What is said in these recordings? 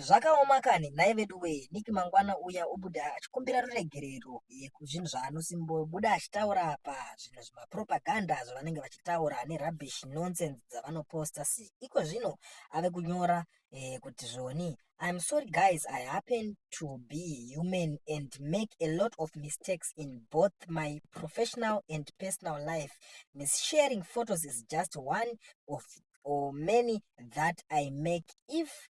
Zvakaoma kani nhai veduwee Nick mangwana uya ubude achikumbira ruregerero yekuzvinhu zvaanosimbobuda achitaura apa zvinhu zvimapropaganda zvavanenge vachitaura nerubbish nonsense dzavanoposta si iko zvino ave kunyora eh, kuti zvoni I'm sorry guys I happen to be human and make a lot of mistakes in both my professional and personal life. Mis sharing photos is just one of or many that I make if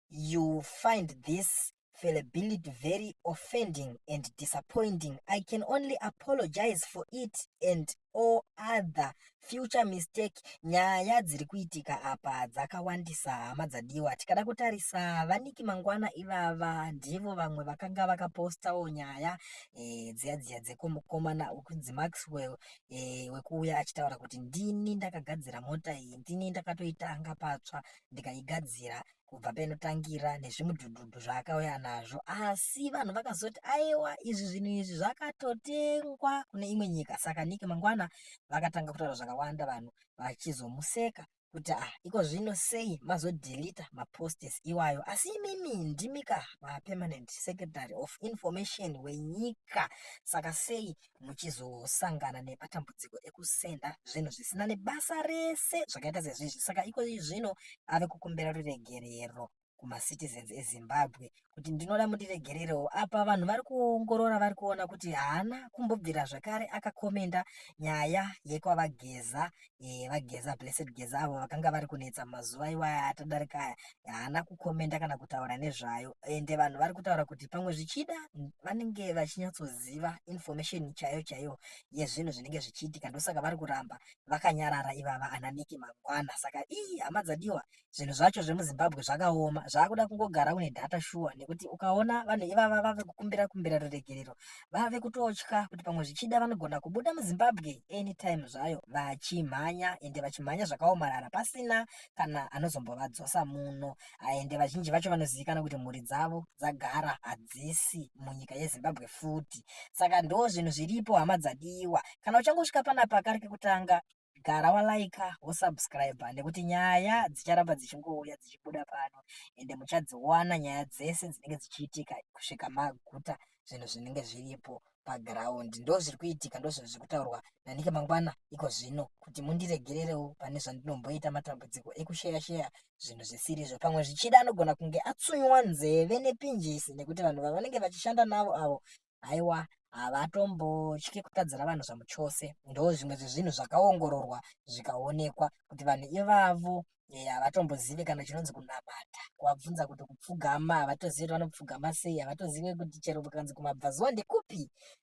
you find this fallibility very offending and disappointing. I can only apologize for it and all other future mistake. Nyaya dziri kuitika apa dzakawandisa hama dzadiwa. Tikada kutarisa vaniki mangwana ivava ndivo vamwe vakanga vakapostawo nyaya e, dziya dziya dzekumukomana ukunzi Maxwell eh, wekuuya achitaura kuti ndini ndakagadzira mota iyi ndini ndakatoitanga patsva ndikaigadzira kubva painotangira nezvimudhudhudhu zvaakauya nazvo asi vanhu vakazoti aiwa izvi zvinhu izvi zvakatotengwa kune imwe nyika saka nike mangwana vakatanga kutaura zvakawanda vanhu vachizomuseka kuti ah iko zvino sei mazodeleta maposts iwayo asi imimi ndimi ka mapermanent secretary of information wenyika saka sei muchizosangana nematambudziko ekusenda zvinhu zvisina nebasa rese zvakaita sezvizvi saka iko zvino ave kukumbira ruregerero kumacitizens ezimbabwe kuti ndinoda mundiregererewo apa vanhu vari kuongorora vari kuona kuti haana kumbobvira zvakare akakomenda nyaya yekwavageza eh, vageza blessed geza avo vakanga vari kunetsa mazuva iwaya atadarika aya haana kukomenda kana kutaura nezvayo ende vanhu vari kutaura kuti pamwe zvichida vanenge vachinyatsoziva information chaiyo chaiyo yezvinhu zvinenge zvichiitika ndosaka vari kuramba vakanyarara ivava ananiki mangwana saka ii hama dzadiwa zvinhu zvacho zvemuzimbabwe zvakaoma zvakuda kungogara une data shuwa nekuti ukaona vanhu ivava vave kukumbira kumbira ruregerero vave kutotya kuti pamwe zvichida vanogona kubuda muzimbabwe anytime zvayo vachimhanya ende vachimhanya zvakaomarara pasina kana anozombovadzosa muno ende vazhinji vacho vanozivikana kuti mhuri dzavo dzagara hadzisi munyika yezimbabwe futi saka ndo zvinhu zviripo hama dzadiwa kana uchangosvika panapa kari kekutanga gara walaika wosubscriber nekuti nyaya dzicharamba dzichingouya dzichibuda pano ende muchadziwana nyaya dzese dzinenge dzichiitika kusvika maguta zvinhu zvinenge zviripo paground ndo zviri kuitika ndo zvinhu zviri kutaurwa nanike mangwana iko zvino kuti mundiregererewo pane zvandinomboita matambudziko ekusheya sheya zvinhu zvisiri izvo pamwe zvichida anogona kunge atsunywa nzeve nepinjisi nekuti vanhu vavanenge vachishanda navo avo haiwa havatombotyi kutadzira vanhu zvamuchose ndo zvimwe zvezvinhu zvakaongororwa zvikaonekwa kuti vanhu ivavo eh, havatombozive kana chinonzi kunamata kuwabvunza kuti kupfugama havatozive kuti vanopfugama sei havatozive kuti chero kukanzi kumabvazuva ndekupi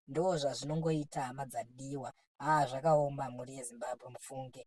ndo zvazvinongoita hama dzadiwa haa zvakaoma mhuri yezimbabwe mufunge